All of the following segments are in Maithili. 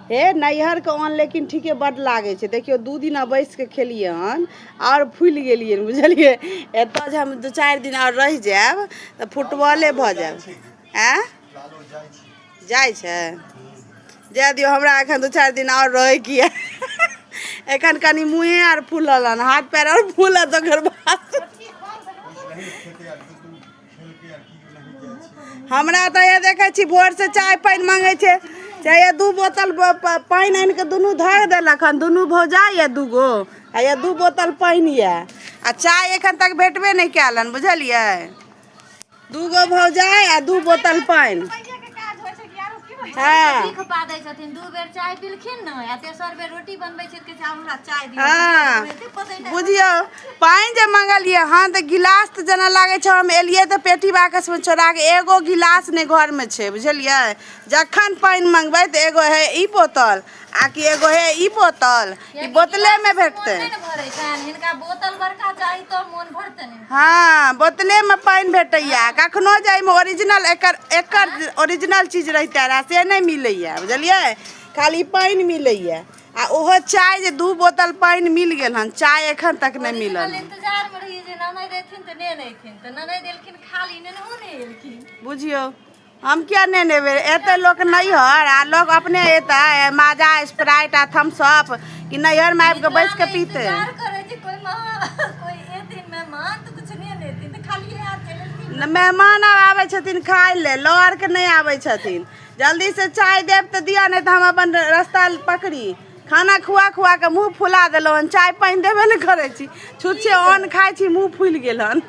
हे नैहरके अन्न लेकिन ठीके बड्ड लागै छै देखियौ दू दिना बैस कऽ खेलियै हन आओर फूलि गेलियै बुझलियै एतय जे हम दू चारि दिन आओर रहि जायब तऽ फुटबॉले भऽ जायब आँय जाइ छै जाय दियौ हमरा एखन दू चारि दिन आओर रहै की एखन कनि मुँहे आर फूलल हन हाथ पैर आर फूलत ओकर बाद हमरा तऽ हे देखै छी भोरसँ चाय पानि मङ्गै छै चाहे ये दू बोतल ब- प- पानि आनि कऽ दुनू धर देलक हन दुनू भौजा ये दूगो आ ये दू बोतल पानि ये आ चाय एखन तक भेटबे नहि कयल हन बुझलियै दूगो भौजाइ आ दू बोतल पानि हँ सीख पा दै छथिन दू बेर चाय पीलखिन ने आ तेसर बेर रोटी बनबै छथिन कि आब हमरा चाय दिअ हँ। एते पतै नहि। बुझियौ पानि जे मंगलियै हन तऽ गिलास तऽ जेना लागै छै हम एलियै तऽ पेटी बाकसमे छोड़ा कऽ एगो गिलास नहि घरमे छै बुझलियै जखन पानि मंगबै तऽ एगो हे ई बोतल आ कि एगो हे ई बोतल ई बोतलेमे भेटतै हिनका बोतल बड़का चाही तो मोन भरतै हँ बोतलेमे पानि भेटैया कखनो जाइमे ओरिजिनल एकर एकर ओरिजिनल चीज रहिते रहए से नहि मिलैया बुझलियै खाली पानि मिलैया आ ओहो चाय जे दू बोतल पानि मिल गेल हन चाय एखन तक नहि मिलल हन। इंतजार में रहिए जे ननद एथिन तऽ नेन एथिन तऽ ननद एलखिन खाली नेनहो नहि एलखिन बुझियौ हम किया नहि नेबै एते लोक नैहर आ लोक अपने एतै माजा स्प्राइट आ थम्सअप कि नैहरमे आबि कऽ बैस कऽ पीतै इंतजार करे जे कोई माँ कोई एथिन मेहमान तऽ कुछ नेन एथिन तऽ खाली हाथ चलि एलखिन ने मेहमान आब आबै छथिन खाय ले लऽ आर के नहि आबै छथिन जल्दी से चाय देब तऽ दिअ नहि तऽ हम अपन रास्ता पकड़ी खाना खुआ खुआ के मुंह फुला देलहुँ हन चाय पानि देबे ने करै छी छुच्छे अन्न खाइ छी मुंह फुलि गेल हन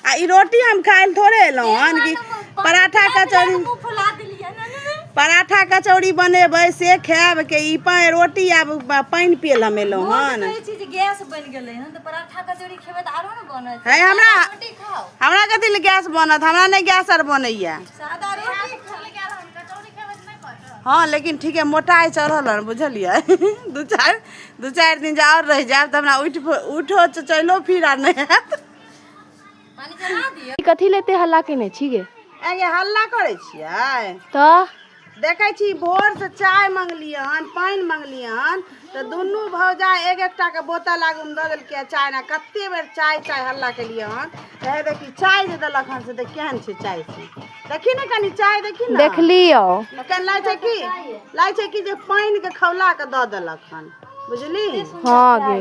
आ ई रोटी हम खाइ लए थोड़े एलहुँ हन कि पराठा कचौड़ी मुंह फुला देलियै ना ना, ना। पराठा कचौड़ी बनेबै से खायब के ई पा- रोटी आब ब- पानि पिए लए हम एलहुँ हम हन कहै छी जे गैस बनि गेलै हन तऽ पराठा कचौड़ी खेबै तऽ आरो ने बनत है, हमरा- रोटी खाओ हमरा कथी लए गैस बनत हमरा नहि गैस आर बनैया हँ लेकिन ठीक है मोटाइ चढ़ल हन बुझलियै दू चारि दू चारि दिन जे आओर रहि जायब तऽ हमरा उठि उठो च- चलो फिर आर नहि हैत कथी लेते हल्ला केने छी गे आगे हल्ला करै छियै तऽ देखै छी भोरसँ चाय मङ्गलियै हन पानि मङ्गलियै हन तऽ दुनू भौजा एक एकटाके बोतल आगूमे दऽ देलकै चाय ने कतेक बेर चाय चाय हल्ला केलियै हन तऽ हे देखी चाय जे देलक हन से तऽ केहन छै चाय से देखी ने कनि चाय देखी ने देखलियो एखन लागै छै कि लागै छै कि जे पानिके खौला कऽ दऽ देलक हन बुझली हँ गे